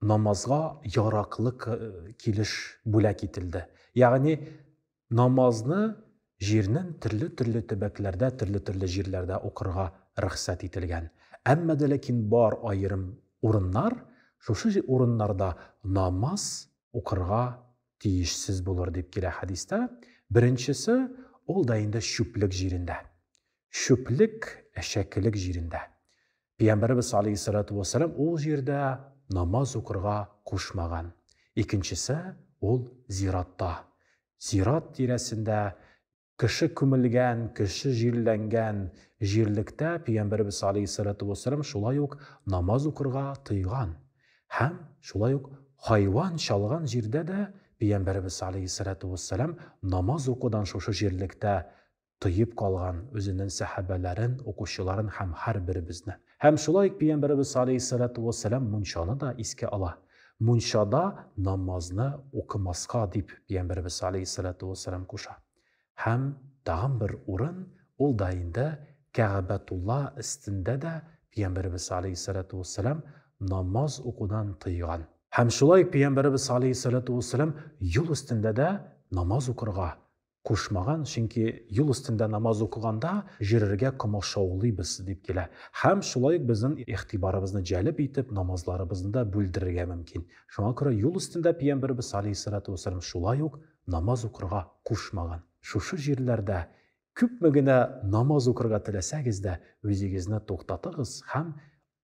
намазга яраклы килеш бүләк ителде. Ягъни намазны җирнең төрле-төрле төбәкләрдә, төрле-төрле җирләрдә укырга рөхсәт ителгән. Әмма дә ләкин бар аерым урыннар, шушы урыннарда намаз укырга тиешсез булыр дип килә хәдистә. Беренчесе ул да инде чүплек җирендә. Чүплек, әшәкелек җирендә. Пәйгамбәребез алейһиссалату вәссәлам ул җирдә намаз укырга кушмаган. Икенчесе ул зиратта. Зират тирәсендә кеше күмелгән, кеше җирләнгән җирлектә Пәйгамбәребез алейһиссалату вәссәлам шулай ук намаз укырга тыйган. Һәм шулай ук хайван чалган җирдә дә Пәйгамбәребез алейһиссалату вәссәлам намаз укудан шушы җирлектә тоеп калган үзенең сәхабәләрен, укучыларын һәм һәрберебезне. Һәм шулай ук Пәйгамбәребез аләйһиссәлату вәссәлам мунчаны да искә ала. Мунчада намазны укымаска дип Пәйгамбәребез аләйһиссәлату вәссәлам куша. Һәм тагын бер урын, ул да инде Кәгабәтулла өстендә дә Пәйгамбәребез аләйһиссәлату вәссәлам намаз укудан тыйган. Һәм шулай ук Пәйгамбәребез аләйһиссәлату вәссәлам юл өстендә дә намаз укырга, кушмаган, чөнки юл өстендә намаз укыганда җөрергә комачаулыйбыз, дип килә. Һәм шулай ук безнең игътибарыбызны җәлеп итеп, намазларыбызны да бүлдерергә мөмкин. Шуңа күрә юл өстендә пиямберебез алейһиссалату уәссәлам шулай ук намаз укырга кушмаган. Шушы җирләрдә күпме генә намаз укырга теләсәгез дә, үзегезне туктатыгыз һәм